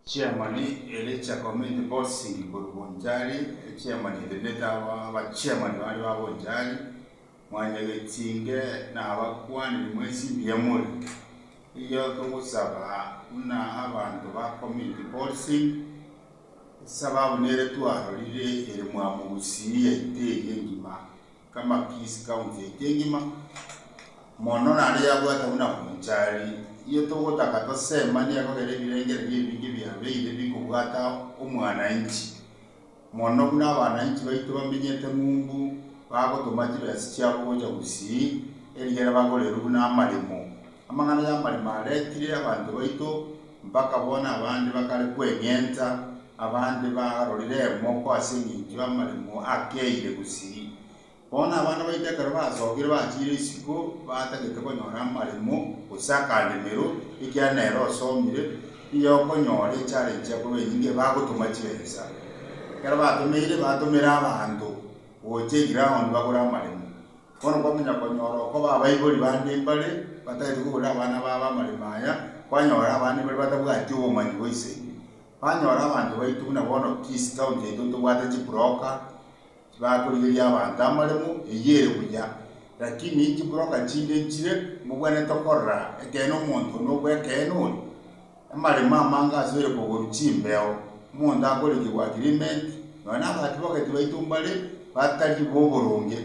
Chiamani eria chia Community Policing korwa Bonchari, echiamani echi ne aba abachiamani bande ba Bonchari, Mwanyagetinge na abakwanire mwensi mbuya more. Erio togosaba buna abanto ba Community Policing, esababu nere twarorire ere mwamogusii yaito eye engima. Kamakis county eke ngima, mono naria yabwate buna Bonchari. Iyio togotaka tosemanie ekogera ebirengererio ebinge biabeire bikobwata omwananchi, mono buna abananchi baito bamenyete ng'umbu bagotoma chibesa chiabo gocha Gusii, erigere bagorerwe buna amaremo. Amang'ana y'amarimo aretire abanto baito mpaka bono abande bakare kweng'enta, abande barorire emoko ase engencho y'amarimo akeire gusii. Bono abana baito ekero basokire bachiire isiko batagete konyora amarimo gose akandemero, ekiagera nere osomire, nigo okonyora echallenge yakoba enyinge bagotoma chiensa. Ekero batomeire batomera abanto gocha eground bagore amarimo. Bono kwamanya konyora okoba abaibori bande mbare batagete koburera abana babo amariko aya, kwanyora abande mbare batabwati obomanyi bwa ise aino. Kwanyora abanto baito buna bono Kisii county yaito ntobwate chibroka chibakorigeria abanto amaremo, eyio ere buya. Lakini chibroka chinde nchire mbobwenerete okorora ekeene omonto onde obw'ekeene ore. Amaremo amange asoire koborwa chimbeo, omonto akorikigwa agreement, nonya nabatibogeti baito mbare batari boboronge.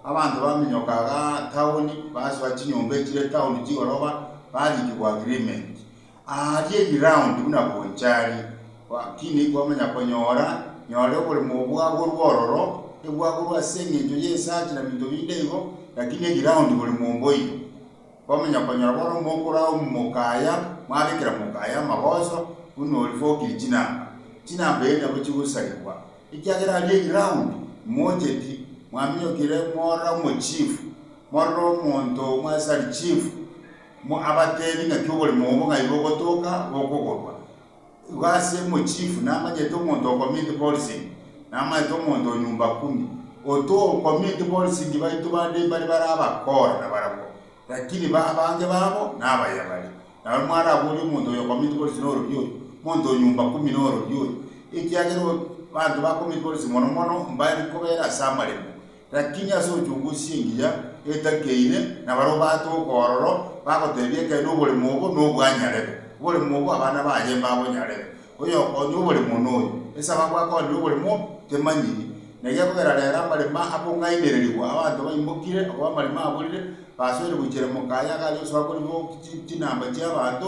Abanto baminyoka iga town, basoa chinyomba echire town chigoroba, barikigwa agreement. Aria eground buna bonchari, lakini kwamanya konyora, nyore oboremo bwagorwa ororo, ebwagorwa ase engencho y'esachi na binto binde igo, lakini eground bore momboiyo. Kwamanya konyora bono omokora omoka aya, mwabekera moka aya amagoso, buna oria bokire chinamba, chinamba eria nabo chigosarigwa, ekiagera aria eground mocheti, mwaminyokire morora omochifu, morora omonto omo ase ari chifu, mo abatebi ng'aki oborimo obo ng'ai bogotoka bokogorwa. Igo ase omochifu namanyete omonto ocommit policing, namanyete omonto o nyumba kumi. Oto o commit policing baito bande mbare bare abakora na barabwo, lakini ba abange babo nabayabare. Nabaria mwarabore omonto oyo o commit policing norori oyo, omonto o nyumba kumi norori oyo, ekiagera o banto ba commit policing mono mono mbare kobera ase amaremo, Lakini ase ochokwa osie engiya etakeine, na barabwo baate okoororo, bagoteebia ekeene oboremo obo nobwanyarebe. Oboremo obo abana baye mbabonyarebe. Oyokonya oboremo noyo. Ase ababwo akoonire oboremo temanyiri. Na gekogera reero amaremo akong'ainererigwa, abanto baimokire, okobaa amaremo aborire, basoire gochia ere mokaye, agariosoa koribogokia chinamba chi'abanto,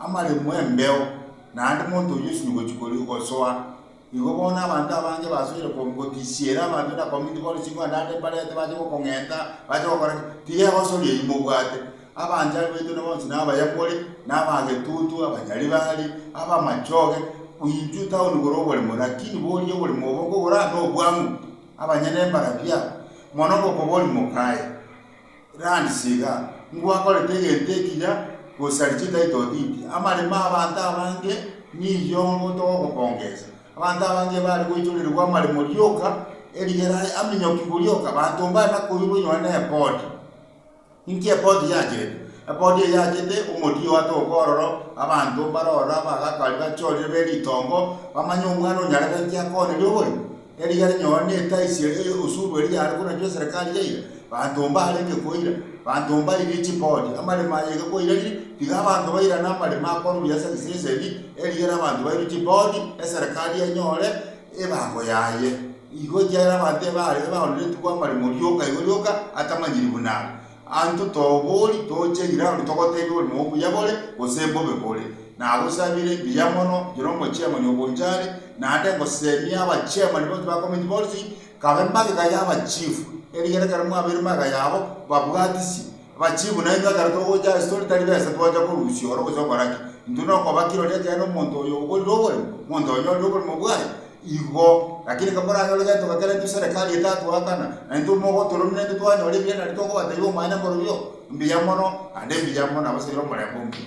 Amaremo 'embeo, naende monto oyio osinye gochia koria ogosoa. Igo bono abanto abange basoire gotisiera abanto na community bono chinguru naende mbarete bache gokong'enta bache gokora ki? Tiga egosori eyio mobwate. Abanchari baito na bonsi na abayamori, na abagetutu, abanyaribari, abamachoge, intwe town igoro oboremo lakini boria oboremo obo nkogora na obwamu, abanyene mbarabia mono ngokoboria mokaye. Randi tiga ngwakorete egento ekiya gosaria chitaito titi, amaremo a abanto abange nigo togokongesa. Abanto abange bare goichorerigwa amaremo rioka, erigere aye aminyokigwe rioka, abanto mbare na koirwa onye ne epoti. Inki epoti yachete? Epoti eye yachete omotiyi oye atoke ororo, abanto mbare ororo abagakari bachorire be ritongo, bamanye omwana onyarebe inki akoneria oborimo. Erigiya rinyore netaisia eye osuru eria yare koranchwa eserekari yaira, banto mbarenge koira, banto mbairire chipodi, amaremo aye iga kwairarire, tiga abanto bairane amaremo akwaruria ase egesese ebi, erigiya ere abanto bairwe chipodi, eserekari enyore ebago yaye. Igo ekiagera abanto ebaare baoneretigwe amaremo rioka igo rioka atamanyiri buna are. Aanto tobori toche iraru togoteebia ore nobuya bore gose bobe bore, nagosabire mbuya mono ekero omochiamani ogocha are, naende ngosemie abachiamani bonsi ba komiti bonsi kabe magega y'abachifu, erigiya ekero mwabeire magega yabo babwatisi abachifu nainwe ekero togocha ase tore tari besa twacha korusia oro gose okora ki, intwe nokoba kirori ekeene omonto oyo oborire oboremo, omonto oyo onyorire oboremo bwaye. Igo, lakini kamoranyore getoka keria intwe serikali etatoakana, na intwe mogotoromia intwe twanyora ebiya nario tokobatebia omanyete korwa yo, mbuya mono, naende mbuya mono abasaire omorembe omuya.